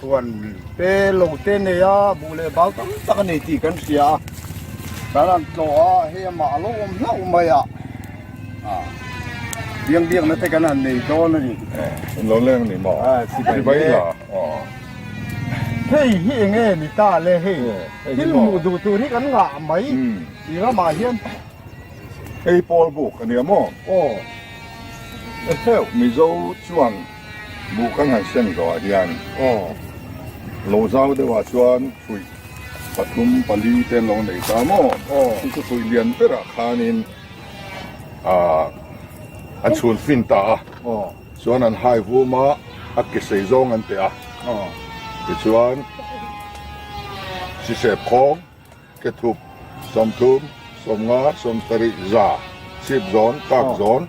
Puan pe lo te nei a buh leh bal tam tak a nei tih kan hria a, kan rawn tlawh a hei amah a lo awm hlauh mai a, ah biang biak na te kan han nei dawn a ni. An lo leng a ni maw? Ah sibai la aw. Hei hi eng nge ni ta le hei thil hmuh duh tur hi kan ngah mai i ramah hian hei pawl buk a nia maw? Aw eheu Mizo chuan. Buk ang han sen zawhah hian aw lo zau deuhah chuan fuih pathum pali te an lo nei ta maw? Aw chu chu fuih lian berah khanin ah an chhun fin ta a, aw chuan an hai vum a, a ke sei zawng an teh a, aw tichuan hrisep khawng. Kethup, sawmthum, sawmnga, sawmsarih, za, chhip zawn, kak zawn,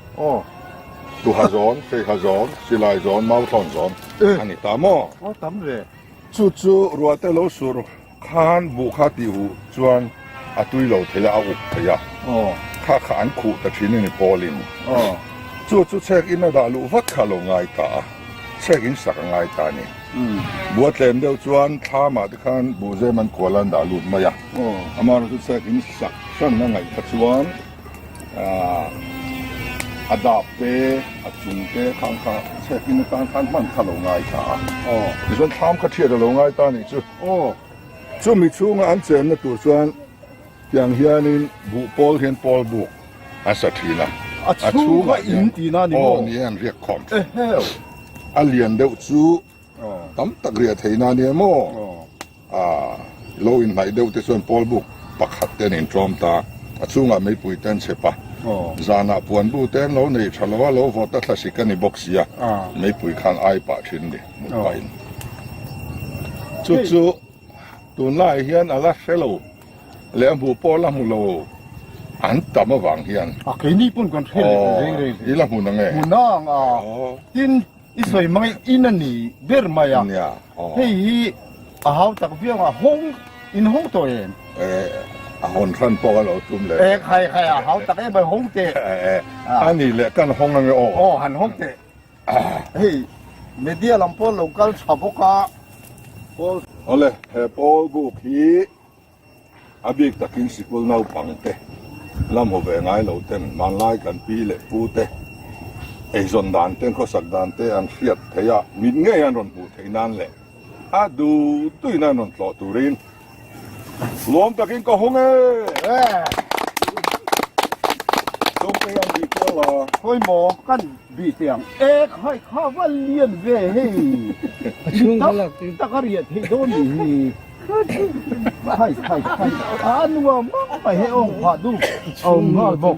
tuha zawn, hreiha zawn, silai zawn, mau thlawn zawn a ni ta maw? Aw tam ve. Chu chu ruate lo sur khan buh kha tih huh chuan a tui lo thei a, a uk thei a, kha kha an khuh ta thin a ni Paulin. Chu chu chhek in a dah luh vat kha a lo ngai ta a. Chhek in sak a ngai ta ni. Bua tlen deuh chuan thla mah te khan buh zem an kual a an dah lut mai a. Amah erawh chu chhek in sak hran a ngaih kha chuan a dap te a chung te khan kha chhek in atan khan hman kha lo ngai ta a. Tichuan thlam kha thiat a lo ngai ta nih chu. Chumi chhunga an chenna tur chuan. Tiang hianin buh pawl hian pawl buk a sa thin a. A chhunga in tina ni maw? Aw ni e an riak khawm thin. Eheu. A lian deuh chu tam tak riah theihna a nia maw? Aah lo in hnaih deuh te chuan pawl buk pakhat te an in tlawm ta a. A chhungah meipui te an chep a. Zanah puan bu te an lo nei tha lo a, lo vawt ta thla si ka ni bawk sia meipui khan ai pah thin a ni mut pahin chu chu. Tunlaiah hian a la hre lo leh a hmuh pawh a la hmu lo an tam avang hian. A keini pawn kan hre leh reng reng hle. I la hmun ang e. Hmun ang a. Tin, i sawi mai in a ni ber mai a. Nia. Aw. Hei hi a hau tak viau a hawng in hawng tawh em? E, a hawn hran pawh ka lo tum leh. E, khai khai a hau tak em a hawng teh. E, a nih leh kan hawng ang e aw. Aw, han hawng teh. Hei media lam pawl lo kal tha bawk a, Paul. Awle he Paul buk hi a bik takin sikul naupang te, lamhaw ve ngai lo ten, hmanlai kan pi leh pu te, eizawn dan te, khawsak dan te an hriat theih a, mitngeiin an rawn hmuh theih nan leh a duh duih nan rawn tlawh turin, Nuam takin ka hawng e! Chawngte hian bih kual la. Pawimawh, kan bih teh ang. E, khai kha va lian ve hei! Dik tak a riah theih dawn nih hi! Khai khai khai! A nuam mang mai he awm phah duh a awm nghal bawk.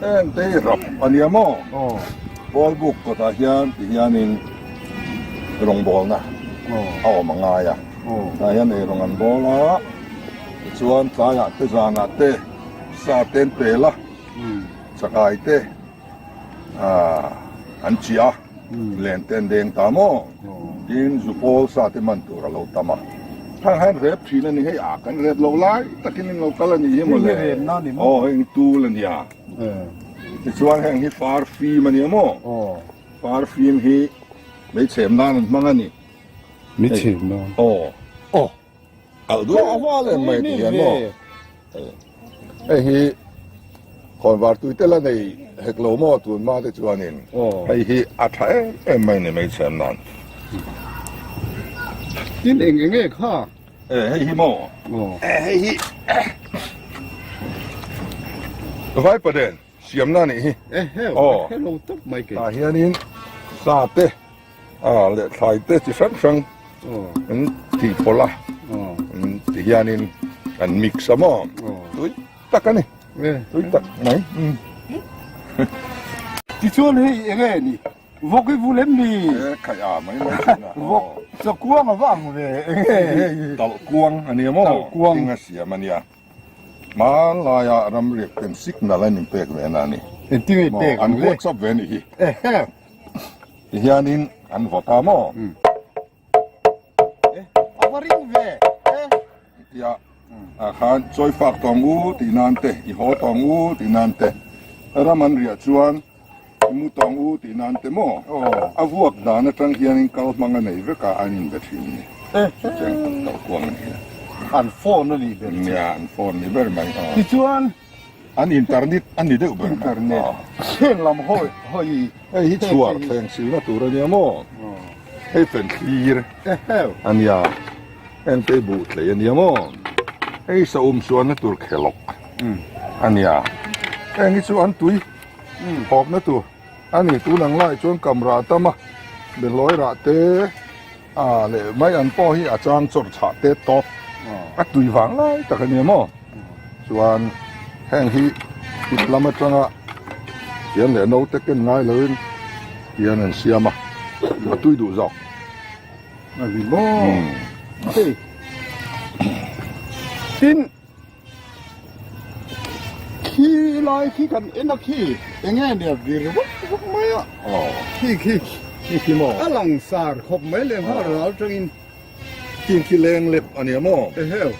Entei rap a nia maw? Pawl buk kawtah hian ti hianin rawngbawlna a awm a ngai a, tah hian ei rawn an bawl a, tichuan tlaiah te zanah te sa ten pela chakaite an chhia. Len te an deng ta maw? Tiin zu pawl sa te man tur a lo tam a. Thar hian rep thin a ni hei a, kan rep loh lai takin in lo kal a nih hi maw le? Hei hi rep na a ni maw? Aw heng tul a nia. Tichuan heng hi far fim a nia maw? Aw. Far fim hi hmeichhem nan an hmang a ni. Hmeichhem nan? Aw. Aw. Alh duah a hma lem mai ti hian maw? Hei hi hawnvar tuite la nei hek lo maw tun hma te chuanin hei hi a tha em em mai ni meichhiam nan. Tin eng eng e kha. E hei hi maw? E hei hi. Vaipaden. Siamna nih hi. Aw. Tah hianin sa te, aw, leh thlai te chi hrang hrang an tih pawlh a. Ti hianin an mix a maw? Tui tak a ni. Tui tak mai. Tichuan hei eng nge ni? Vawk hi vul em ni? E khai a, mai mai thin a. Vawk chakuang a vang ve eng nge hei? Talhkuang a ni a maw? Talhkuang. Thing a siam a nia. Hmanlaia ram riak peng sik nal an inpek ve na ni. Engtin a inpek ang le? An buat chauh ve anih hi. Tihianin an vawt a maw? A va ring ve e. Tia ah khan chawi fak tawng u tih nan te, i haw tawng u tih nan te ram an riah chuan. Mu tawng u tih nan ti maw? A vuak dan atang hianin kal hmang a nei vekah an inbe thin ni. Chutiang tak tawh kuang a ni a. An phone a nih ber che. An phone a nih ber mai. Tichuan. An internet a ni deuh ber mai. Internet. Thleng lam hawi hawi. Hei hi chhuar thleng silna tur a nia maw? Hei fenthlir a nia. Engpei buh thlei a nia maw? Hei sawum sualna tur khelawk a nia. Heng hi chu an tui. Hawpna tur a ni. Tun ang lai chuan kam rah tam a, behlawi rah te ah leh mai an pawh hi a chang chawr chhah têt tawp a tui vang lai tak a nia maw? Chuan heng hi tip lam atanga Thian leh No te ken ngai loin Thian an siam a, a tui duh zawk. Tin. Khi lai khi kan en a khi enge nia vir vak vak mai a aw khi khi khi khi maw a langsar khawp mai leh nghal ral tangin khi khi leng lep a nia maw eheu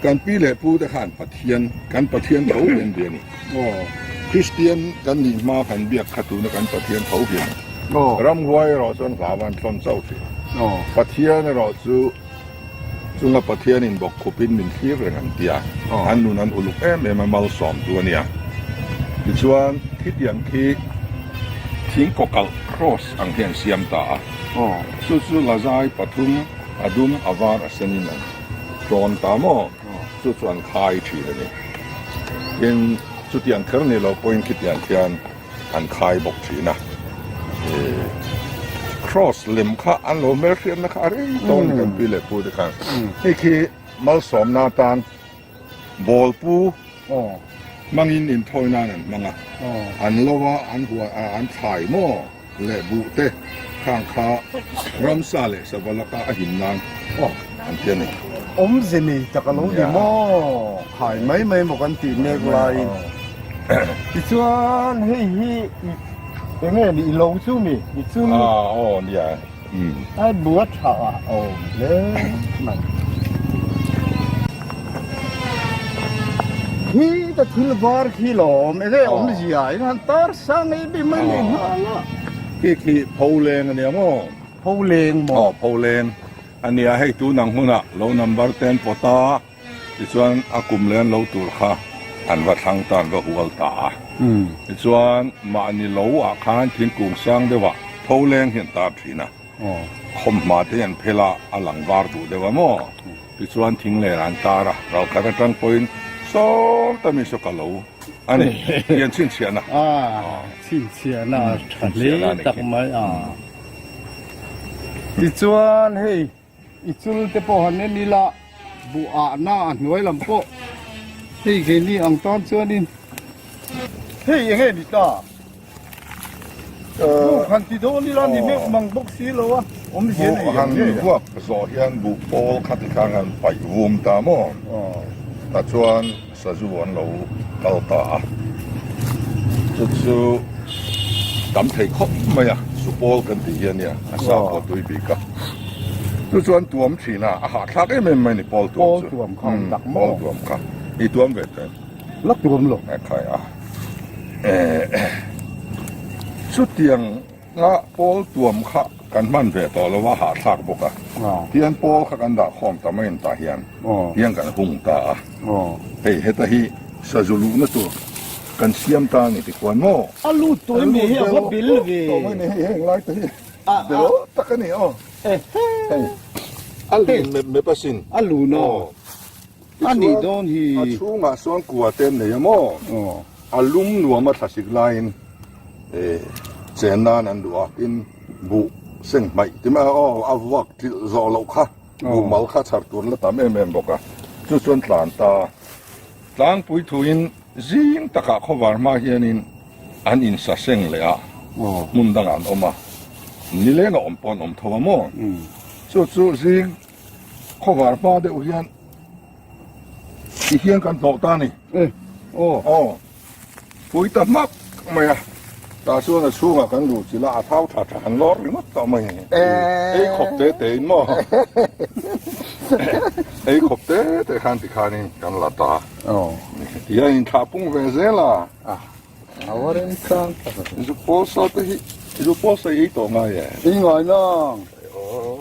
kan pi leh pu te khan pathian kan pathian tho hian ve a ni aw kristian kan nih hma han biak kha tuna kan pathian tho hian aw ramhuai erawh chuan vava an tlawn chauh thin aw pathian erawh chu Chunga Pathian in bawk khup in min thlir reng ang tia an nun an uluk em em a malsawm tu a nia. Tichuan khitiang khi thing kawkalh cross ang hi an siam ta a, chu chu lazai pathum a dum a var a sen in an tawn ta maw, chu chu an khai thin a ni. Tin chuti an kher ni lo pawhin khitiang khian. an khai bawk thin a, cross lem kha an lo hmel hriatna kha a rei tawh a ni kan pi leh pu te khan, hei khi malsawm na tan ball pu hmangin in thawi nan an hmang a, an lo a an huan an thlai maw leh buh te. Khang kha ramsa leh sava laka a him nan an ti a ni. Awmze nei tak a lo ni maw? Khai mai mai maw kan tih mek lai. Tichuan hei hi eng nge ni? I lo chu mi? I chu mi? Ah aw nia a bua tha a awm hle mai. Hi ka thil var khi lawm eng nge awmzia in han tar sang ei bik mai nei hna la. Khi khi pho leng ania maw? Pho leng maw? Aw, pho leng ania. Hei tunang hunah lo number te an pawt a, tichuan a kum leh an lo tur kha an va thlang ta, an va hual ta a. Tichuan mahni lo ah khan thingkung sang deuhah pho leng hi an tar thin a. Khawm hma te hi an phelh a, a lang var duh deuh a maw? Tichuan thing len ah an tar a, ralkhat atang pawhin sawm ta miso ka lo. a ni hian chhinchhiahna a chhinchhiahna a tha hle tak mai a tichuan hei i chul te pawh han en ila buhahna a hnuai lam pawh hei keini ang tan chuanin hei enge ni ta. han ti deuh ni la ni hmel mang bawk si lo a awm hian a han vuak zawh hian buh pawl kha ti khan han paih vum ta maw tah chuan sazu an lo kal ta a chu chu tam thei khawp mai a chu pawl kan tih hian nia a sa pawh tui bik a chu chuan tuam thin a a hahthlak em em mai a ni pawl tuam chu pawl tuam kha i tuam ve teh. Lak tuam lo. Thaia eh eh. Chutiang a pawl tuam kha kan hman ve tawh lo a hahthlak bawk a. Tian pawl kha kan dah khawm ta mai ang tah hian tiang kan hung ta a. Hei heta hi sazu luhna tur kan siam ta a ni tih kuan maw? A lut tawh em ni hi a va bel ve. A lut belh tawh mai ni hi heng lai te hi bel tak a ni aw. Hei a lun mep mep asin. A lun aw. A nih dawn hi! A chhungah sawn kua te an nei a maw? A lum nuama thlahrik laiin chen nan an duh a, tin, Buh seng hmaih ti mai. Aw, a vuak trilh zawh loh kha, buh mal kha chhar tur la tam em em bawk a. Chu chuan tlan ta. Tlangpui thuin zing takah khawvar hma hianin an insa seng leh a, hmun dangah an awm a, ni leng a awm pawh an awm tho a maw? Chu chu zing. Khawvar hma deuh hian ti hian kan hlawh ta ni. Eh, oh. Oh. Pui ta hmak mai a. Ta chuan a chhunga kan lu chila a thau tha tha han lawr ringawt tawh mai. Eh. Ei khawp te te in maw. Ei khawp te te khan ti khan in kan la ta. Oh. Ti a in thlah pung ve zel a. Ah. Awarin khang. Zupawsa te hi, zupawsa ei tawh ngai e. Ei ngai nang. Oh.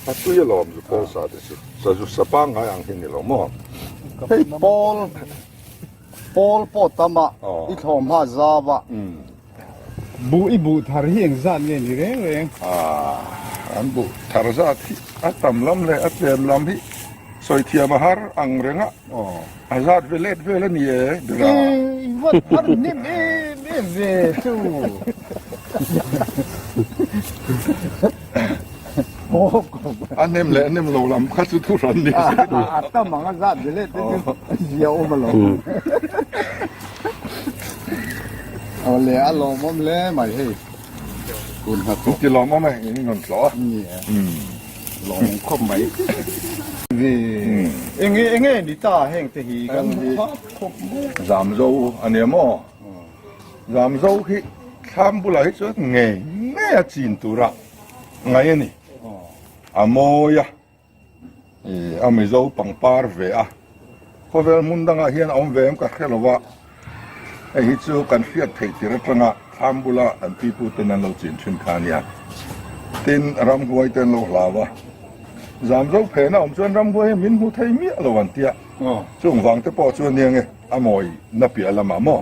A tui a lawm zu Paul sa te chu sa zu sa pang ngai ang hi ni lo maw? Hei Paul Paul pawh tam a i thlawm ha zau a. Buh i buh thar hi eng zat nge ni reng reng? Ah an buh thar zat hi a tam lam leh a tlem lam hi sawi thiam a har ang reng a. A zat ve let vel a ni e Bera. Ei, vat a rin nem em em ve chu. A nem leh a nem lo lam kha chu thu hran ni se ni. A tam ang a zat ve let te chu zia awm a lo. Awle a lawm awm hle mai hei. Kun hna chu. Ti lawm awm e, in rawn thlawh a. Ni e. Lawng khawp mai. Ni eng nge eng nge ni ta heng te hi kan hmu khap khawp mai a. Zam zo a nia maw? Zam zo hi thlam bulah hi chuan ngei ngei a chin tura ngai a ni. A mawi a, a mizo pangpar ve a. Khawvel hmun dangah hian a awm ve em ka hre lo a, hei hi chu kan hriat theih tir atanga thlam bula kan pipu ten an lo chin thin kha nia, tin ramhuai te an lo hlau a, zam zo phen a awm chuan ramhuai hi min hmu thei miah lo an tia, chungvang te pawh chuan eng nge a mawi na piah lamah maw?